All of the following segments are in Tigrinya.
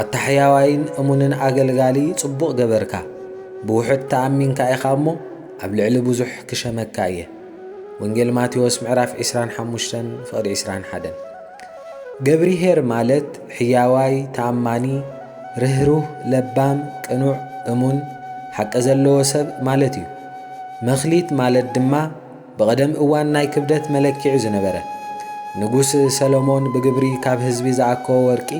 ኣታ ሕያዋይን እሙንን ኣገልጋሊ ጽቡቕ ገበርካ ብውሑድ ተኣሚንካ ኢኻ እሞ ኣብ ልዕሊ ብዙሕ ክሸመካ እየ ወንጌል ማቴዎስ ምዕራፍ ዒስራን ሓሙሽተን ፍቕዲ ዒስራን ሓደን ገብርሄር ማለት ሕያዋይ ተኣማኒ ርህሩህ ለባም ቅኑዕ እሙን ሓቂ ዘለዎ ሰብ ማለት እዩ መክሊት ማለት ድማ ብቐደም እዋን ናይ ክብደት መለክዒ ዝነበረ፣ ንጉስ ሰሎሞን ብግብሪ ካብ ህዝቢ ዝኣከቦ ወርቂ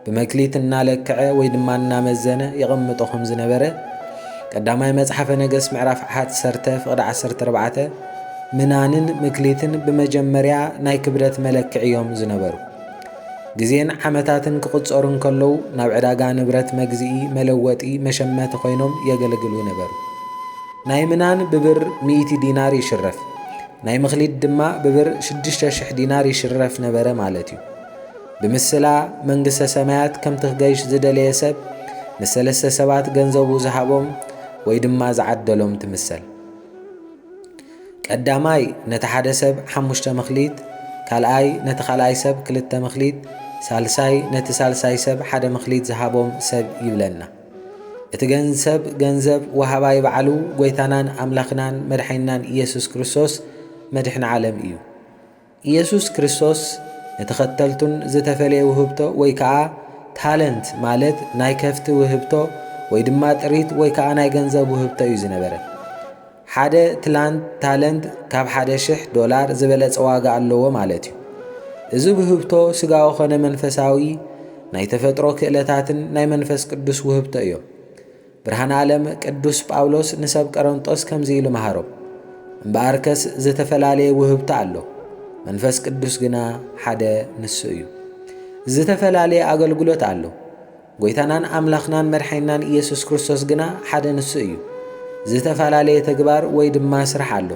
ብመክሊት እናለክዐ ወይ ድማ እናመዘነ የቐምጦ ከም ዝነበረ ቀዳማይ መጽሓፈ ነገሥት ምዕራፍ ዓሓት ሠርተ ፍቕዲ ዓሰርተ ኣርባዕተ ምናንን ምክሊትን ብመጀመርያ ናይ ክብደት መለክዒ እዮም ዝነበሩ። ግዜን ዓመታትን ክቕጸሩ እንከለዉ ናብ ዕዳጋ ንብረት መግዝኢ፣ መለወጢ፣ መሸመቲ ኮይኖም የገልግሉ ነበሩ። ናይ ምናን ብብር ሚእቲ ዲናር ይሽረፍ፣ ናይ ምክሊድ ድማ ብብር ሽዱሽተ ሽሕ ዲናር ይሽረፍ ነበረ ማለት እዩ። ብምስላ መንግስተ ሰማያት ከምቲ ክገይሽ ዝደለየ ሰብ ንሰለስተ ሰባት ገንዘቡ ዝሃቦም ወይ ድማ ዝዓደሎም ትምሰል። ቀዳማይ ነቲ ሓደ ሰብ ሓሙሽተ ምክሊት፣ ካልኣይ ነቲ ካልኣይ ሰብ ክልተ ምክሊት፣ ሳልሳይ ነቲ ሳልሳይ ሰብ ሓደ ምክሊት ዝሃቦም ሰብ ይብለና። እቲ ገንሰብ ገንዘብ ወሃባይ ባዕሉ ጎይታናን ኣምላኽናን መድሓኒናን ኢየሱስ ክርስቶስ መድሕን ዓለም እዩ። ኢየሱስ ክርስቶስ ንተኸተልቱን ዝተፈለየ ውህብቶ ወይ ከኣ ታለንት ማለት ናይ ከፍቲ ውህብቶ ወይ ድማ ጥሪት ወይ ከኣ ናይ ገንዘብ ውህብቶ እዩ ዝነበረ። ሓደ ትላንት ታለንት ካብ ሓደ ሽሕ ዶላር ዝበለጸ ዋጋ ኣለዎ ማለት እዩ። እዚ ብህብቶ ስጋዊ ኮነ መንፈሳዊ ናይ ተፈጥሮ ክእለታትን ናይ መንፈስ ቅዱስ ውህብቶ እዮም። ብርሃን ዓለም ቅዱስ ጳውሎስ ንሰብ ቀረንጦስ ከምዚ ኢሉ መሃሮም፣ እምበኣርከስ ዝተፈላለየ ውህብቶ ኣሎ፣ መንፈስ ቅዱስ ግና ሓደ ንሱ እዩ። ዝተፈላለየ ኣገልግሎት ኣሎ። ጐይታናን ኣምላኽናን መድሓኒናን ኢየሱስ ክርስቶስ ግና ሓደ ንሱ እዩ። ዝተፈላለየ ተግባር ወይ ድማ ስራሕ ኣሎ።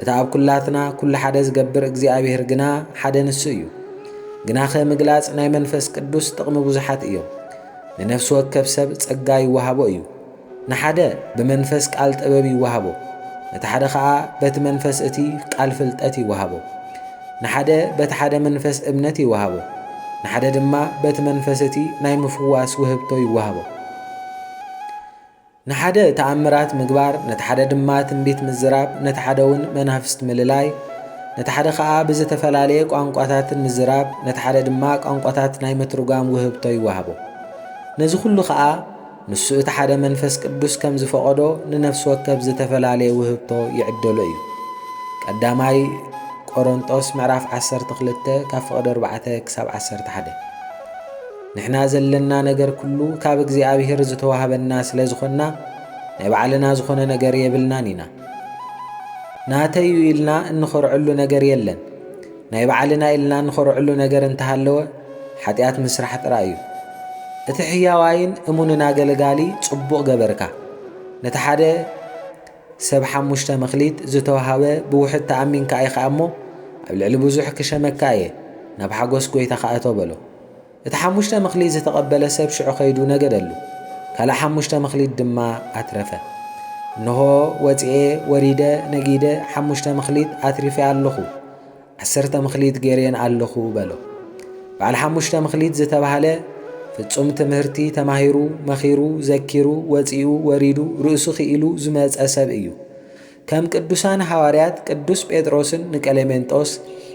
እቲ ኣብ ኩላትና ኩሉ ሓደ ዝገብር እግዚኣብሔር ግና ሓደ ንሱ እዩ። ግናኸ ምግላጽ ናይ መንፈስ ቅዱስ ጥቕሚ ብዙሓት እዮም። ንነፍሲ ወከፍ ሰብ ጸጋ ይወሃቦ እዩ። ንሓደ ብመንፈስ ቃል ጥበብ ይወሃቦ፣ ነቲ ሓደ ኸኣ በቲ መንፈስ እቲ ቃል ፍልጠት ይወሃቦ። ንሓደ በቲ ሓደ መንፈስ እምነት ይወሃቦ፣ ንሓደ ድማ በቲ መንፈስ እቲ ናይ ምፍዋስ ውህብቶ ይወሃቦ። ንሓደ ተኣምራት ምግባር፣ ነቲ ሓደ ድማ ትንቢት ምዝራብ፣ ነቲ ሓደ እውን መናፍስት ምልላይ፣ ነቲ ሓደ ኸኣ ብዝተፈላለየ ቋንቋታትን ምዝራብ፣ ነቲ ሓደ ድማ ቋንቋታት ናይ ምትርጓም ውህብቶ ይወሃቦ። ነዚ ኹሉ ኸኣ ንሱ እቲ ሓደ መንፈስ ቅዱስ ከም ዝፈቐዶ ንነፍሲ ወከፍ ዝተፈላለየ ውህብቶ ይዕደሎ እዩ። ቀዳማይ ቆሮንጦስ ምዕራፍ ዓሰርተ ክልተ ካብ ፍቕዲ ኣርባዕተ ክሳብ ዓሰርተ ሓደ ንሕና ዘለና ነገር ኩሉ ካብ እግዚኣብሔር ዝተዋህበና ስለ ዝኾንና ናይ ባዕልና ዝኾነ ነገር የብልናን ኢና። ናተይ እዩ ኢልና እንኾርዐሉ ነገር የለን። ናይ ባዕልና ኢልና እንኾርዕሉ ነገር እንተሃለወ ሓጢኣት ምስራሕ ጥራይ እዩ። እቲ ሕያዋይን እሙንን ኣገልጋሊ ጽቡቕ ገበርካ። ነቲ ሓደ ሰብ ሓሙሽተ መኽሊት ዝተዋህበ ብውሕድ ተኣሚንካ ኢኻ እሞ፣ ኣብ ልዕሊ ብዙሕ ክሸመካ እየ፣ ናብ ሓጐስ ጐይታኻ እቶ በሎ። እቲ ሓሙሽተ መክሊት ዝተቐበለ ሰብ ሽዑ ከይዱ ነገደሉ፣ ካልእ ሓሙሽተ መክሊት ድማ ኣትረፈ። እንሆ፣ ወጺኤ፣ ወሪደ፣ ነጊደ፣ ሓሙሽተ መክሊት ኣትሪፌ ኣሎኹ፣ ዓሰርተ መክሊት ገይሬን ኣሎኹ በሎ። በዓል ሓሙሽተ መክሊት ዝተባህለ፣ ፍጹም ትምህርቲ ተማሂሩ፣ መኺሩ፣ ዘኪሩ፣ ወጺኡ፣ ወሪዱ፣ ርእሱ ክኢሉ ዝመጸ ሰብ እዩ። ከም ቅዱሳን ሃዋርያት ቅዱስ ጴጥሮስን ንቀሌሜንጦስ፣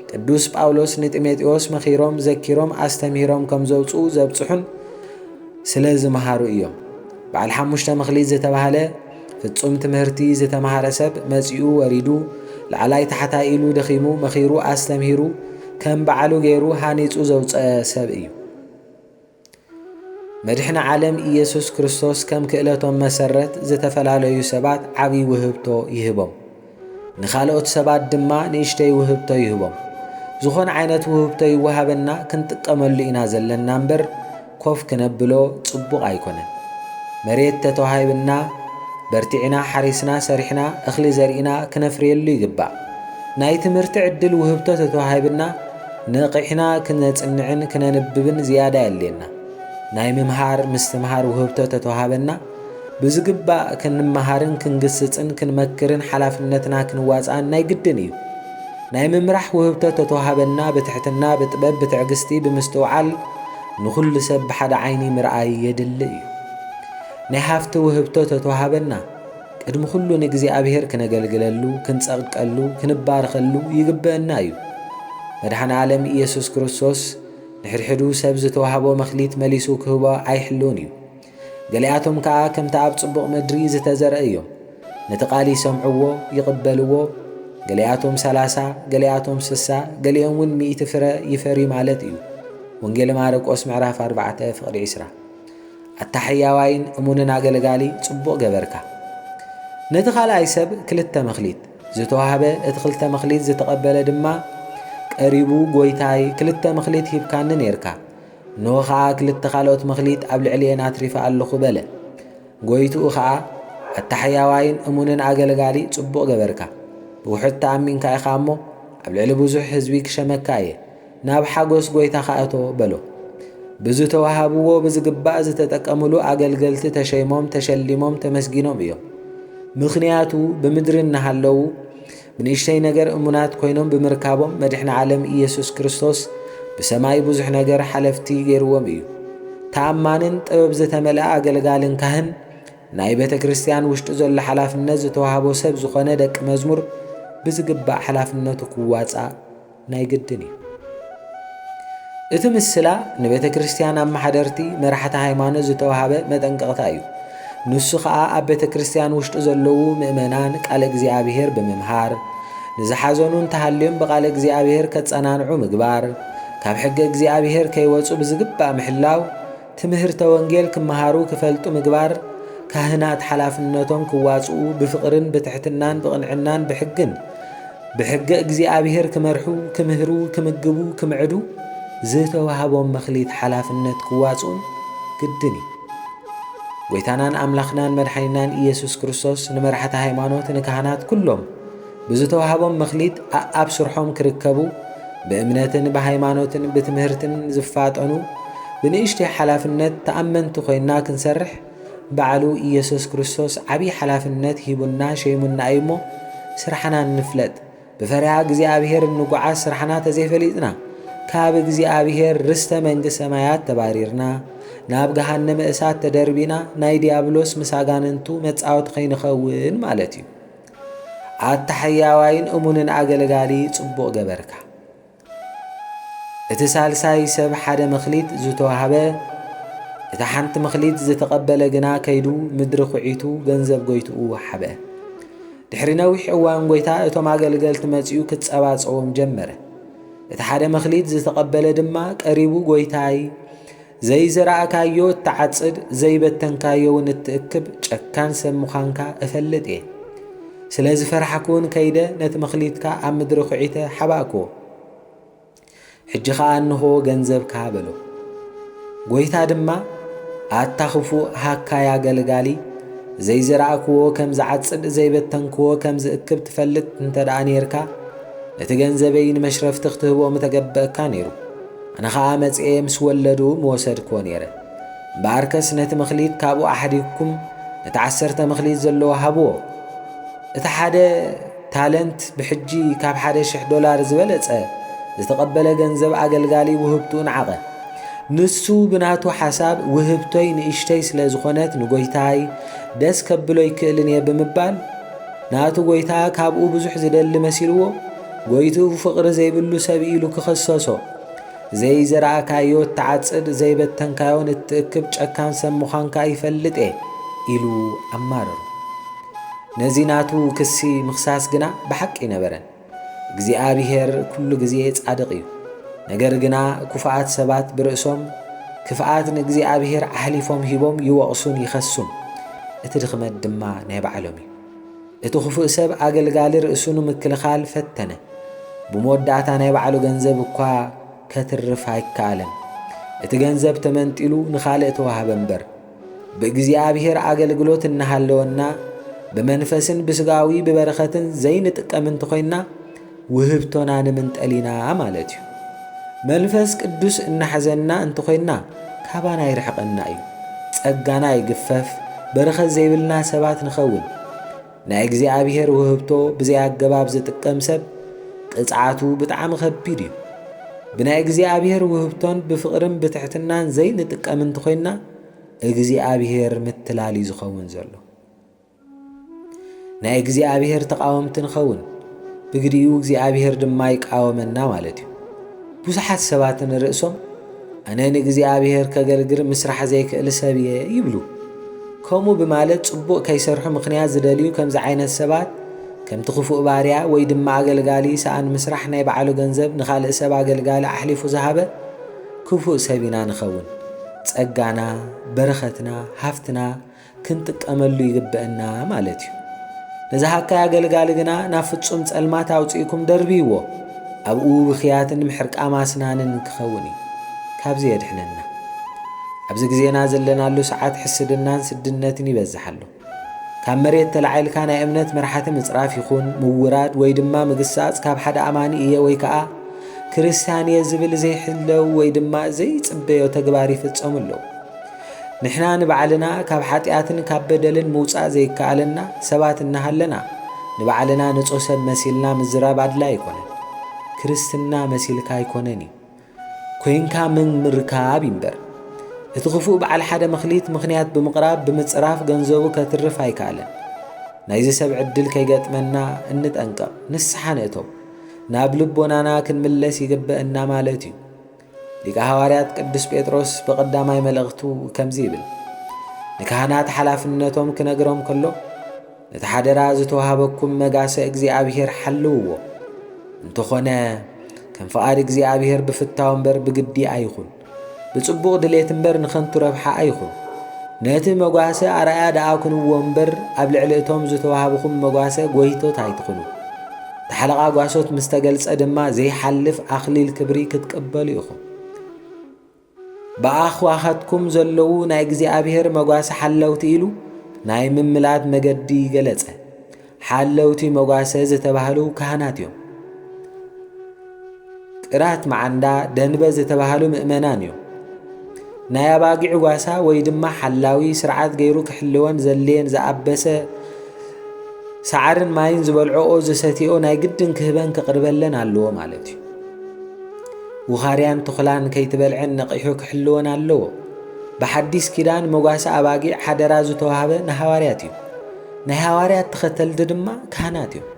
ቅዱስ ጳውሎስ ንጢሞቴዎስ መኺሮም፣ ዘኪሮም፣ ኣስተምሂሮም ከም ዘውጽኡ ዘብጽሑን ስለ ዝመሃሩ እዮም። በዓል ሓሙሽተ መኽሊት ዝተባህለ ፍጹም ትምህርቲ ዝተማሃረ ሰብ መጺኡ ወሪዱ ላዕላይ ታሕታይ ኢሉ ደኺሙ መኺሩ ኣስተምሂሩ ከም በዓሉ ገይሩ ሃኒጹ ዘውጸ ሰብ እዩ። መድሕነ ዓለም ኢየሱስ ክርስቶስ ከም ክእለቶም መሰረት ዝተፈላለዩ ሰባት ዓብይ ውህብቶ ይህቦም። ንኻልኦት ሰባት ድማ ንእሽተይ ውህብቶ ይህቦም። ዝኾነ ዓይነት ውህብቶ ይወሃበና ክንጥቀመሉ ኢና ዘለና እምበር ኮፍ ክነብሎ ጽቡቕ ኣይኮነን። መሬት ተተዋሂብና በርቲዕና ሓሪስና ሰሪሕና እኽሊ ዘሪእና ክነፍርየሉ ይግባእ። ናይ ትምህርቲ ዕድል ውህብቶ ተተዋሂብና ነቒሕና ክነጽንዕን ክነንብብን ዝያዳ የድልየና። ናይ ምምሃር ምስትምሃር ውህብቶ ተተዋህበና፣ ብዝግባእ ክንመሃርን ክንግስጽን ክንመክርን ሓላፍነትና ክንዋጽኣን ናይ ግድን እዩ። ናይ ምምራሕ ውህብቶ ተተዋህበና ብትሕትና ብጥበብ ብትዕግስቲ ብምስትውዓል ንኹሉ ሰብ ብሓደ ዓይኒ ምርኣይ የድሊ እዩ። ናይ ሃፍቲ ውህብቶ ተተዋህበና። ቅድሚ ኹሉ ንእግዚኣብሔር ክነገልግለሉ፣ ክንጸቅቀሉ፣ ክንባረኸሉ ይግበእና እዩ። መድኃኔ ዓለም ኢየሱስ ክርስቶስ ንሕድሕዱ ሰብ ዝተዋህቦ መክሊት መሊሱ ክህቦ ኣይሕልውን እዩ። ገሊኣቶም ከኣ ከምቲ ኣብ ጽቡቕ ምድሪ ዝተዘርአ እዮም። ነቲ ቃል ይሰምዕዎ፣ ይቕበልዎ፣ ገሊኣቶም ሰላሳ፣ ገሊኣቶም ስሳ፣ ገሊኦምውን ሚእቲ ፍረ ይፈሪ ማለት እዩ። ወንጌል ማርቆስ ምዕራፍ ኣርባዕተ ፍቕዲ ዕስራ ኣታ ሕያዋይን እሙንን ኣገልጋሊ ጽቡቕ ገበርካ። ነቲ ካልኣይ ሰብ ክልተ መክሊት ዝተዋህበ እቲ ክልተ መክሊት ዝተቐበለ ድማ ቀሪቡ ጎይታይ ክልተ መክሊት ሂብካኒ ኔርካ እነሆ ኸኣ ክልተ ካልኦት መክሊት ኣብ ልዕሊኤን ኣትሪፈ ኣለኹ በለ። ጎይትኡ ኸኣ ኣታ ሕያዋይን እሙንን ኣገልጋሊ ጽቡቕ ገበርካ፣ ብውሑድ ተኣሚንካ ኢኻ እሞ ኣብ ልዕሊ ብዙሕ ህዝቢ ክሸመካ እየ፣ ናብ ሓጐስ ጐይታኻ እቶ በሎ። ብዝተዋህብዎ ብዝግባእ ዝተጠቀምሉ ኣገልገልቲ ተሸይሞም ተሸሊሞም ተመስጊኖም እዮም። ምኽንያቱ ብምድሪ እናሃለዉ ብንእሽተይ ነገር እሙናት ኮይኖም ብምርካቦም መድሕኒ ዓለም ኢየሱስ ክርስቶስ ብሰማይ ብዙሕ ነገር ሓለፍቲ ገይርዎም እዩ። ተኣማንን ጥበብ ዝተመልኣ ኣገልጋልን ካህን ናይ ቤተ ክርስቲያን ውሽጢ ዘሎ ሓላፍነት ዝተዋህቦ ሰብ ዝኾነ ደቂ መዝሙር ብዝግባእ ሓላፍነቱ ክዋፃእ ናይ ግድን እዩ። እቲ ምስላ ንቤተ ክርስቲያን ኣመሓደርቲ፣ መራሕቲ ሃይማኖት ዝተወሃበ መጠንቀቕታ እዩ። ንሱ ኸኣ ኣብ ቤተ ክርስቲያን ውሽጢ ዘለዉ ምእመናን ቃለ እግዚኣብሔር ብምምሃር፣ ንዝሓዘኑ እንተሃልዮም ብቃለ እግዚኣብሔር ከጸናንዑ ምግባር፣ ካብ ሕገ እግዚኣብሔር ከይወጹ ብዝግባእ ምሕላው፣ ትምህርተ ወንጌል ክመሃሩ ክፈልጡ ምግባር፣ ካህናት ሓላፍነቶም ክዋጽኡ ብፍቕርን ብትሕትናን ብቕንዕናን ብሕግን ብሕገ እግዚኣብሔር ክመርሑ ክምህሩ ክምግቡ ክምዕዱ ዝተዋህቦም መክሊት ሓላፍነት ክዋጽኡን ግድን እዩ። ጐይታናን ኣምላኽናን መድሓኒናን ኢየሱስ ክርስቶስ ንመራሕቲ ሃይማኖት ንካህናት ኩሎም ብዝተዋህቦም መክሊት ኣኣብ ስርሖም ክርከቡ፣ ብእምነትን ብሃይማኖትን ብትምህርትን ዝፋጠኑ፣ ብንእሽተይ ሓላፍነት ተኣመንቲ ኮይና ክንሰርሕ ባዕሉ ኢየሱስ ክርስቶስ ዓብይ ሓላፍነት ሂቡና ሸይሙና እዩ እሞ ስራሕና ንፍለጥ ብፈሪሃ እግዚኣብሔር እንጉዓዝ ስራሕና ተዘይፈሊጥና ካብ እግዚኣብሔር ርስተ መንግስት ሰማያት ተባሪርና ናብ ገሃነመ እሳት ተደርቢና ናይ ዲያብሎስ ምስ ኣጋንንቱ መጻወቲ ከይንኸውን ማለት እዩ። ኣታ ሕያዋይን እሙንን ኣገልጋሊ ጽቡቕ ገበርካ። እቲ ሳልሳይ ሰብ ሓደ መክሊት ዝተዋህበ እታ ሓንቲ መክሊት ዝተቐበለ ግና ከይዱ ምድሪ ኩዒቱ ገንዘብ ጎይትኡ ወሓበ። ድሕሪ ነዊሕ እዋን ጎይታ እቶም ኣገልገልቲ መጺኡ ክጸባጸቦም ጀመረ። እቲ ሓደ መክሊት ዝተቐበለ ድማ ቀሪቡ ጎይታይ ዘይዘራእካዮ እትዓጽድ ዘይበተንካዮውን እትእክብ ጨካን ሰብ ምዃንካ እፈልጥ እየ። ስለ ዝፈራሕኩውን ከይደ ነቲ መኽሊትካ ኣብ ምድሪ ዅዒተ ሓባእክዎ። ሕጂ ኸኣ እንሆ ገንዘብካ በሎ። ጐይታ ድማ ኣታ ኽፉእ ሃካይ ኣገልጋሊ፣ ዘይዘራእክዎ ከም ዝዓጽድ ዘይበተንክዎ ከም ዝእክብ ትፈልጥ እንተ ደኣ ኔርካ፣ ነቲ ገንዘበይ ንመሽረፍቲ ክትህቦ ምተገበእካ ነይሩ። ኣነ ኸኣ መጺኤ ምስ ወለዱ ምወሰድክዎ ነይረ። እምበኣርከስ ነቲ መክሊት ካብኡ ኣሕዲግኩም ነቲ ዓሰርተ መክሊት ዘለዎ ሃብዎ። እቲ ሓደ ታለንት ብሕጂ ካብ ሓደ ሽሕ ዶላር ዝበለጸ ዝተቐበለ ገንዘብ ኣገልጋሊ ውህብትኡ ነዓቐ። ንሱ ብናቱ ሓሳብ ውህብቶይ ንእሽተይ ስለ ዝኾነት ንጎይታይ ደስ ከብሎ ኣይክእልን እየ ብምባል ናቱ ጎይታ ካብኡ ብዙሕ ዝደሊ መሲልዎ ጎይትኡ ፍቕሪ ዘይብሉ ሰብ ኢሉ ክኸሰሶ። ዘይዘራእካዮ እትዓጽድ፣ ዘይበተንካዮ ንእትእክብ ጨካን ሰብ ምዃንካ ይፈልጥ'የ ኢሉ ኣማረሮ። ነዚ ናቱ ክሲ ምኽሳስ ግና ብሓቂ ኣይነበረን። እግዚኣብሄር ኩሉ ግዜ ጻድቕ እዩ። ነገር ግና ኩፉኣት ሰባት ብርእሶም ክፍኣት ንእግዚኣብሄር ኣሕሊፎም ሂቦም ይወቕሱን ይኸሱን። እቲ ድኽመት ድማ ናይ ባዕሎም እዩ። እቲ ኽፉእ ሰብ ኣገልጋሊ ርእሱ ንምክልኻል ፈተነ፣ ብመወዳእታ ናይ ባዕሉ ገንዘብ እኳ ከትርፍ ኣይከኣለን። እቲ ገንዘብ ተመንጢሉ ንኻልእ ተዋህበ እምበር። ብእግዚኣብሔር ኣገልግሎት እናሃለወና ብመንፈስን ብስጋዊ ብበረኸትን ዘይንጥቀም እንተኾይንና ውህብቶና ንምንጠል ኢና ማለት እዩ። መንፈስ ቅዱስ እናሕዘና እንተኾይንና ካባና ይርሕቐና እዩ። ጸጋና ይግፈፍ፣ በረኸት ዘይብልና ሰባት ንኸውን። ናይ እግዚኣብሔር ውህብቶ ብዘይ ኣገባብ ዝጥቀም ሰብ ቅጽዓቱ ብጣዕሚ ከቢድ እዩ። ብናይ እግዚኣብሔር ውህብቶን ብፍቕርን ብትሕትናን ዘይንጥቀም እንተኾይንና እግዚኣብሔር ምትላል እዩ ዝኸውን ዘሎ። ናይ እግዚኣብሔር ተቓወምቲ ንኸውን፣ ብግዲኡ እግዚኣብሔር ድማ ይቃወመና ማለት እዩ። ብዙሓት ሰባት ንርእሶም ኣነ ንእግዚኣብሔር ከገልግር ምስራሕ ዘይክእል ሰብ እየ ይብሉ። ከምኡ ብማለት ጽቡቕ ከይሰርሑ ምኽንያት ዝደልዩ ከምዚ ዓይነት ሰባት ከምቲ ክፉእ ባርያ ወይ ድማ ኣገልጋሊ ሰኣን ምስራሕ ናይ ባዕሉ ገንዘብ ንኻልእ ሰብ ኣገልጋሊ ኣሕሊፉ ዝሃበ ክፉእ ሰብ ኢና ንኸውን። ጸጋና፣ በረኸትና፣ ሃፍትና ክንጥቀመሉ ይግበእና ማለት እዩ። ነዚ ሃካይ ኣገልጋሊ ግና ናብ ፍጹም ጸልማት ኣውጺእኩም ደርብይዎ፣ ኣብኡ ብኽያትን ምሕርቃም ኣስናንን ክኸውን እዩ። ካብዚ የድሕነና። ኣብዚ ግዜና ዘለናሉ ሰዓት ሕስድናን ስድነትን ይበዝሕ ኣሎ። ካብ መሬት ተላዒልካ ናይ እምነት መራሕቲ ምጽራፍ ይኹን ምውራድ ወይ ድማ ምግሳጽ ካብ ሓደ ኣማኒ እየ ወይ ከኣ ክርስትያን እየ ዝብል ዘይሕለው ወይ ድማ ዘይጽበዮ ተግባር ይፍጸሙ ኣለዉ። ንሕና ንባዕልና ካብ ሓጢኣትን ካብ በደልን ምውጻእ ዘይከኣለና ሰባት እናሃለና፣ ንባዕልና ንጹህ ሰብ መሲልና ምዝራብ ኣድላዪ ኣይኮነን። ክርስትና መሲልካ ኣይኮነን እዩ፣ ኮይንካ ምርካብ እዩ እምበር። እቲ ክፉእ በዓል ሓደ መክሊት ምኽንያት ብምቕራብ ብምጽራፍ ገንዘቡ ከትርፍ ኣይከኣለን። ናይዚ ሰብ ዕድል ከይገጥመና እንጠንቀቕ፣ ንስሓ ንእተው፣ ናብ ልቦናና ክንምለስ ይግበእና ማለት እዩ። ሊቀ ሃዋርያት ቅዱስ ጴጥሮስ ብቐዳማይ መልእኽቱ ከምዚ ይብል፣ ንካህናት ሓላፍነቶም ክነግሮም ከሎ ነቲ ሓደራ ዝተዋህበኩም መጋሰ እግዚኣብሔር ሓልውዎ፣ እንተኾነ ከም ፍቓድ እግዚኣብሔር ብፍታው እምበር ብግዲ ኣይኹን፣ ብጽቡቕ ድሌት እምበር ንኸንቱ ረብሓ ኣይኹን። ነቲ መጓሰ ኣርኣያ ደኣ ኩንዎ እምበር ኣብ ልዕሊ እቶም ዝተዋህብኹም መጓሰ ጎይቶት ኣይትኹኑ። ብሓለቓ ጓሶት ምስ ተገልጸ ድማ ዘይሓልፍ ኣኽሊል ክብሪ ክትቅበሉ ኢኹም። ብኣኽዋኸትኩም ዘለዉ ናይ እግዚኣብሔር መጓሰ ሓለውቲ ኢሉ ናይ ምምላድ መገዲ ገለጸ። ሓለውቲ መጓሰ ዝተባህሉ ካህናት እዮም። ጥራት መዓንዳ ደንበ ዝተባህሉ ምእመናን እዮም። ናይ ኣባጊዕ ጓሳ ወይ ድማ ሓላዊ ስርዓት ገይሩ ክሕልወን ዘድልየን ዝኣበሰ ሳዕርን ማይን ዝበልዕኦ ዝሰትኦ ናይ ግድን ክህበን ክቕርበለን ኣለዎ ማለት እዩ ውኻርያን ትኹላን ከይትበልዐን ነቒሑ ክሕልወን ኣለዎ ብሓዲስ ኪዳን መጓሰ ኣባጊዕ ሓደራ ዝተዋህበ ንሃዋርያት እዩ ናይ ሃዋርያት ተኸተልቲ ድማ ካህናት እዮም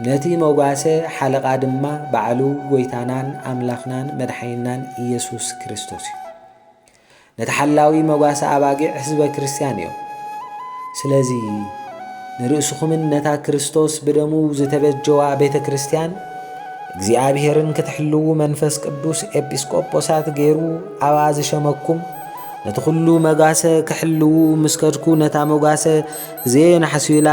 ነቲ መጓሰ ሓለቓ ድማ ባዕሉ ጐይታናን ኣምላኽናን መድሓኒናን ኢየሱስ ክርስቶስ እዩ። ነቲ ሓላዊ መጓሰ ኣባጊዕ ሕዝበ ክርስቲያን እዮም። ስለዚ ንርእስኹምን ነታ ክርስቶስ ብደሙ ዝተበጀዋ ቤተ ክርስቲያን እግዚኣብሔርን ክትሕልዉ መንፈስ ቅዱስ ኤጲስቆጶሳት ገይሩ ኣብኣ ዝሸመኩም ነቲ ዅሉ መጓሰ ክሕልዉ ምስ ከድኩ ነታ መጓሰ ዘየናሕሱላ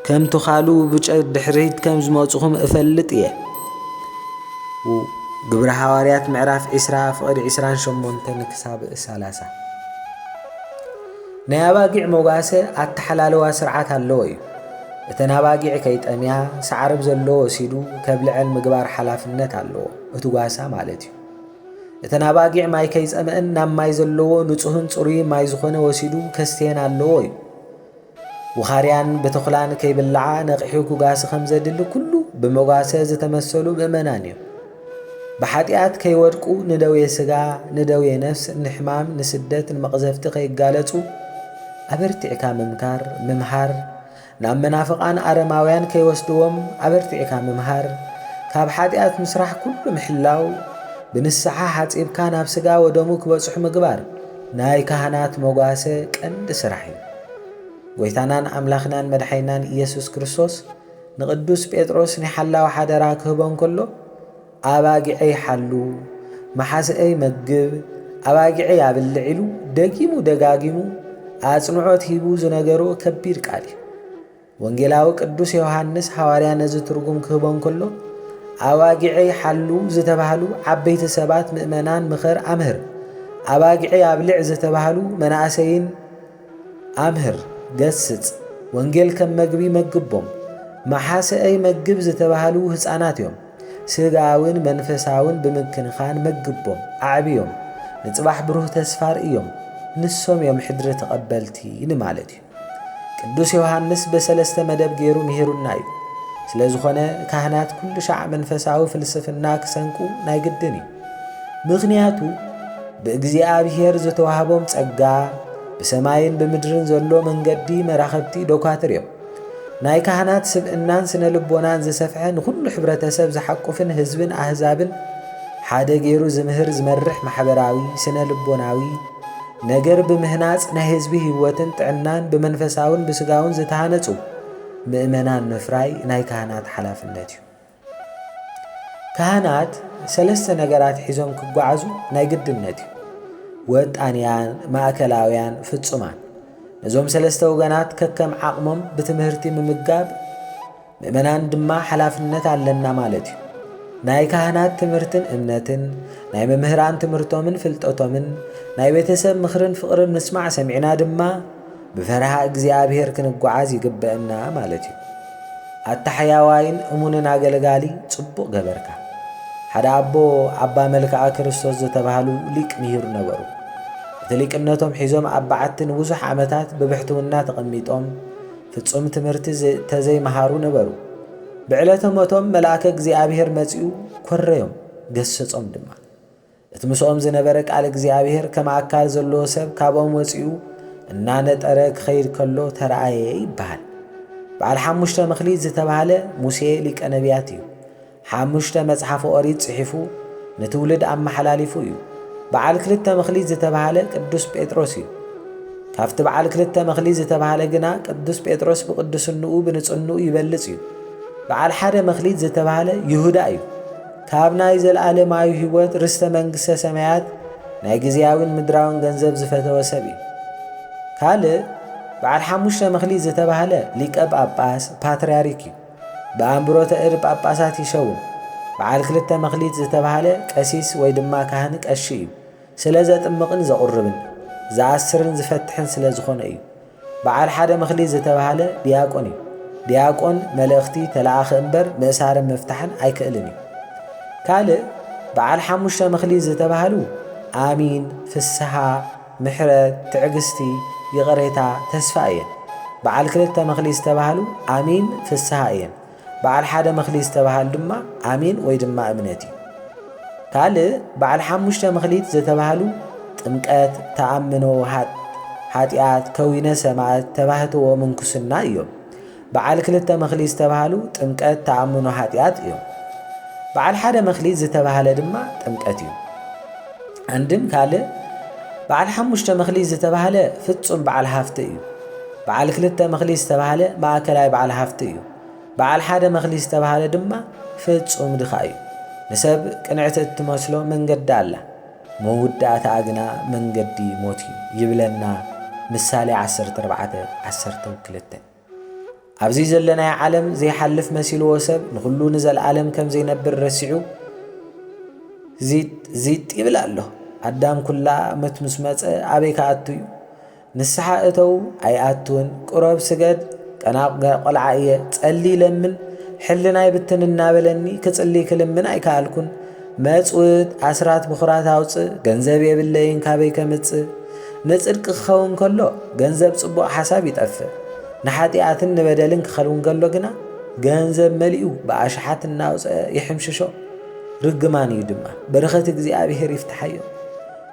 ከም ትኻሉ ብጨ ድሕሪት ከም ዝመጽኹም እፈልጥ እየ። ው ግብሪ ሃዋርያት ምዕራፍ ዒስራ ፍቕዲ ዒስራን ሸሞንተን ክሳብ ሰላሳ ናይ ኣባጊዕ መጓሰ ኣተሓላልዋ ስርዓት ኣለዎ እዩ። እተን ኣባጊዕ ከይጠምያ ሳዕርብ ዘለዎ ወሲዱ ከብልዐን ምግባር ሓላፍነት ኣለዎ እቲ ጓሳ ማለት እዩ። እተን ኣባጊዕ ማይ ከይጸመእን ናብ ማይ ዘለዎ ንጹህን ጽሩይ ማይ ዝኾነ ወሲዱ ከስተየን ኣለዎ እዩ። ውኻርያን ብተኹላን ከይብላዓ ነቒሑ ክጓሲ ከም ዘድሊ ኩሉ ብመጓሰ ዝተመሰሉ ምእመናን እዮም። ብሓጢኣት ከይወድቁ ንደዌ ስጋ፣ ንደዌ ነፍስ፣ ንሕማም፣ ንስደት፣ ንመቕዘፍቲ ከይጋለጹ ኣበርቲዕካ ምምካር፣ ምምሃር፣ ናብ መናፍቓን ኣረማውያን ከይወስድዎም ኣበርቲዕካ ምምሃር፣ ካብ ሓጢኣት ምስራሕ ኩሉ ምሕላው፣ ብንስሓ ሓጺብካ ናብ ስጋ ወደሙ ክበጽሑ ምግባር ናይ ካህናት መጓሰ ቀንዲ ስራሕ እዩ። ጐይታናን ኣምላኽናን መድሓኒናን ኢየሱስ ክርስቶስ ንቅዱስ ጴጥሮስ ናይ ሓላዊ ሓደራ ክህቦ እንከሎ ኣባጊዐይ ሓሉ፣ መሓዝኣይ መግብ፣ ኣባጊዐይ ኣብልዕ ኢሉ ደጊሙ ደጋጊሙ ኣጽንዖት ሂቡ ዝነገሮ ከቢድ ቃል እዩ። ወንጌላዊ ቅዱስ ዮሃንስ ሃዋርያ ነዚ ትርጉም ክህቦ እንከሎ ኣባጊዐይ ሓሉ ዝተባህሉ ዓበይቲ ሰባት ምእመናን ምኸር ኣምህር፣ ኣባጊዐይ ኣብልዕ ዝተባህሉ መናእሰይን ኣምህር፣ ገስጽ፣ ወንጌል ከም መግቢ መግቦም፣ መሓሰኣይ መግብ ዝተባህሉ ህጻናት እዮም፣ ስጋውን መንፈሳውን ብምክንኻን መግቦም፣ ኣዕብዮም፣ ንጽባሕ ብሩህ ተስፋ ርእዮም፣ ንሶም እዮም ሕድሪ ተቐበልቲ ንማለት እዩ። ቅዱስ ዮሃንስ በሰለስተ መደብ ገይሩ ምሂሩና እዩ። ስለ ዝኾነ ካህናት ኩሉ ሻዕ መንፈሳዊ ፍልስፍና ክሰንቁ ናይ ግድን እዩ። ምኽንያቱ ብእግዚኣብሔር ዝተዋህቦም ጸጋ ብሰማይን ብምድርን ዘሎ መንገዲ መራኸብቲ ዶኳትር እዮም። ናይ ካህናት ስብእናን ስነ ልቦናን ዝሰፍሐ ንኹሉ ሕብረተሰብ ዝሓቁፍን ህዝብን ኣህዛብን ሓደ ገይሩ ዝምህር ዝመርሕ ማሕበራዊ ስነ ልቦናዊ ነገር ብምህናጽ ናይ ህዝቢ ህይወትን ጥዕናን ብመንፈሳውን ብስጋውን ዝተሃነጹ ምእመናን ምፍራይ ናይ ካህናት ሓላፍነት እዩ። ካህናት ሰለስተ ነገራት ሒዞም ክጓዓዙ ናይ ግድነት እዩ። ወጣንያን፣ ማእከላውያን፣ ፍጹማን። ነዞም ሰለስተ ወገናት ከከም ዓቕሞም ብትምህርቲ ምምጋብ፣ ምእመናን ድማ ሓላፍነት ኣለና ማለት እዩ። ናይ ካህናት ትምህርትን እምነትን፣ ናይ መምህራን ትምህርቶምን ፍልጠቶምን፣ ናይ ቤተሰብ ምኽርን ፍቕርን ምስማዕ ሰሚዕና ድማ ብፈርሃ እግዚኣብሔር ክንጓዓዝ ይግበእና ማለት እዩ። ኣታ ሕያዋይን እሙንን ኣገልጋሊ ጽቡቕ ገበርካ። ሓደ ኣቦ ኣባ መልክኣ ክርስቶስ ዝተባህሉ ሊቅ ምሂር ነበሩ። እቲ ሊቅነቶም ሒዞም ኣብ በዓቲ ንብዙሕ ዓመታት ብብሕትውና ተቐሚጦም ፍጹም ትምህርቲ ተዘይመሃሩ ነበሩ። ብዕለተ ሞቶም መልኣከ እግዚኣብሔር መጺኡ ኰረዮም፣ ገሰጾም ድማ። እቲ ምስኦም ዝነበረ ቃል እግዚኣብሔር ከም ኣካል ዘለዎ ሰብ ካብኦም ወጺኡ እናነጠረ ክኸይድ ከሎ ተረኣየ ይበሃል። በዓል ሓሙሽተ መኽሊት ዝተባህለ ሙሴ ሊቀ ነቢያት እዩ። ሓሙሽተ መጽሓፍ ኦሪት ጽሒፉ ንትውልድ ኣመሓላሊፉ እዩ። በዓል ክልተ መክሊት ዝተብሃለ ቅዱስ ጴጥሮስ እዩ። ካብቲ በዓል ክልተ መክሊት ዝተብሃለ ግና ቅዱስ ጴጥሮስ ብቅዱስንኡ ብንጽንኡ ይበልጽ እዩ። በዓል ሓደ መክሊት ዝተብሃለ ይሁዳ እዩ። ካብ ናይ ዘለዓለማዊ ሕይወት ርስተ መንግሥተ ሰማያት ናይ ጊዜያዊን ምድራውን ገንዘብ ዝፈተወ ሰብ እዩ። ካልእ በዓል ሓሙሽተ መክሊት ዝተብሃለ ሊቀ ጳጳስ፣ ፓትርያርክ፣ እዩ። ብኣምብሮተ እድ ጳጳሳት ይሸውም። በዓል ክልተ መክሊት ዝተባህለ ቀሲስ ወይ ድማ ካህን ቀሺ እዩ። ስለ ዘጥምቕን ዘቑርብን፣ ዝኣስርን ዝፈትሕን ስለ ዝኾነ እዩ። በዓል ሓደ መክሊት ዝተባህለ ዲያቆን እዩ። ዲያቆን መልእኽቲ ተለኣኺ እምበር ምእሳርን ምፍታሕን ኣይክእልን እዩ። ካልእ በዓል ሓሙሽተ መክሊት ዝተባህሉ ኣሚን፣ ፍስሃ፣ ምሕረት፣ ትዕግስቲ፣ ይቕሬታ፣ ተስፋ እየን። በዓል ክልተ መኽሊት ዝተባህሉ ኣሚን፣ ፍስሃ፣ እየን። በዓል ሓደ መኽሊት ዝተባህሉ ድማ ኣሚን ወይ ድማ እምነት እዩ። ካልእ በዓል ሓሙሽተ መኽሊት ዘተባህሉ ጥምቀት፣ ተኣምኖ፣ ሃጥ፣ ሓጢኣት፣ ከዊነ ሰማእት፣ ተባህትዎ፣ ምንኩስና እዮም። በዓል ክልተ መክሊት ዝተብሃሉ ጥምቀት፣ ተኣምኖ ኃጢኣት እዮም። በዓል ሓደ መክሊት ዝተብሃለ ድማ ጥምቀት እዩ። ኣንድም ካልእ በዓል ሓሙሽተ መክሊት ዝተብሃለ ፍጹም በዓል ሃፍቲ እዩ። በዓል ክልተ መክሊት ዝተብሃለ ማእከላይ በዓል ሃፍቲ እዩ። በዓል ሓደ መክሊት ዝተብሃለ ድማ ፍጹም ድኻ እዩ። ንሰብ ቅንዕቲ እትመስሎ መንገዲ ኣላ፣ መውዳእታኣ ግና መንገዲ ሞት እዩ ይብለና ምሳሌ ዓሰርተ ኣርባዕተ፣ ዓሰርተው ክልተ። ኣብዚ ዘለናዮ ዓለም ዘይሓልፍ መሲልዎ ሰብ ንኹሉ ንዘለዓለም ከም ዘይነብር ረሲዑ ዚጥ ይብል ኣሎ። ኣዳም ኩላ መት ምስ መጸ ኣበይ ክኣቱ እዩ? ንስሓ እተው ኣይኣቱን፣ ቅረብ ስገድ፣ ጠናቑ ቆልዓ እየ፣ ጸሊ ለምን፣ ሕልናይ ብትን እናበለኒ ክጽሊ ክልምን ኣይከኣልኩን። መጽውት ኣስራት ብኹራት ኣውጽእ ገንዘብ የብለይን ካበይ ከምጽእ ንጽድቂ ክኸውን ከሎ ገንዘብ ጽቡቕ ሓሳብ ይጠፍእ ንሓጢኣትን ንበደልን ክኸውን ከሎ ግና ገንዘብ መሊኡ ብኣሽሓት እናውፅአ ይሕምሽሾ ርግማን እዩ ድማ በረኸት እግዚኣብሔር ይፍትሓዮ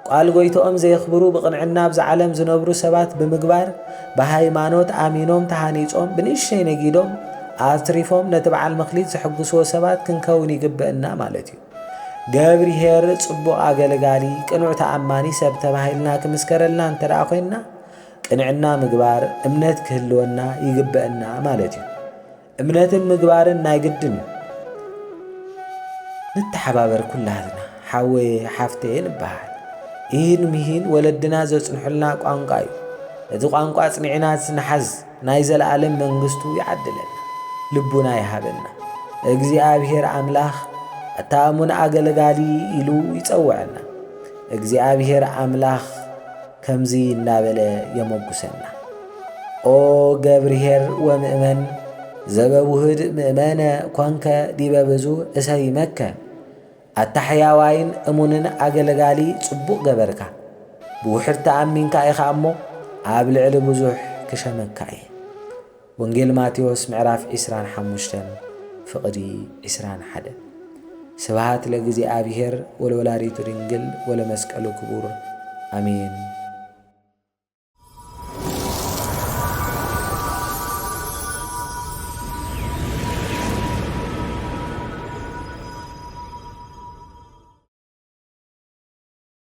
ቃል ጎይትኦም ዘየኽብሩ ብቕንዕና ኣብዛ ዓለም ዝነብሩ ሰባት ብምግባር ብሃይማኖት ኣሚኖም ተሃኒጾም ብንእሽተይ ነጊዶም ኣትሪፎም ነቲ በዓል መክሊት ዘሕጉስዎ ሰባት ክንከውን ይግበእና ማለት እዩ። ገብርሄር ጽቡቕ ኣገልጋሊ ቅኑዕ ተኣማኒ ሰብ ተባሂልና ክምስከረልና እንተ ኮይንና ቅንዕና ምግባር እምነት ክህልወና ይግበእና ማለት እዩ። እምነትን ምግባርን ናይ ግድን እዩ። ንተሓባበር ኩላትና ሓወየ ሓፍተየ ንበሃል። ኢሂን ምሂን ወለድና ዘጽንሑልና ቋንቋ እዩ። ነቲ ቋንቋ ኣጽኒዕናስ ንሓዝ ናይ ዘለኣለም መንግስቱ ይዓድለና። ልቡና ይሃበና። እግዚኣብሔር ኣምላኽ ኣታ እሙን ኣገልጋሊ ኢሉ ይጸውዐና። እግዚኣብሔር ኣምላኽ ከምዚ እናበለ የመጉሰና። ኦ ገብርኄር ወምእመን ዘበውሁድ ምእመነ ኮንከ ዲበ ብዙ እሰይመከ። ኣታ ሕያዋይን እሙንን ኣገልጋሊ ጽቡቕ ገበርካ። ብውሑድ ተኣሚንካ ኢኻ እሞ ኣብ ልዕሊ ብዙሕ ክሸመካ እየ። ወንጌል ማቴዎስ ምዕራፍ ዕስራን ሓሙሽተን ፍቕዲ ዕስራን ሓደን ስብሃት ለእግዚኣብሔር ወለወላዲቱ ድንግል ወለመስቀሉ ክቡር ኣሜን።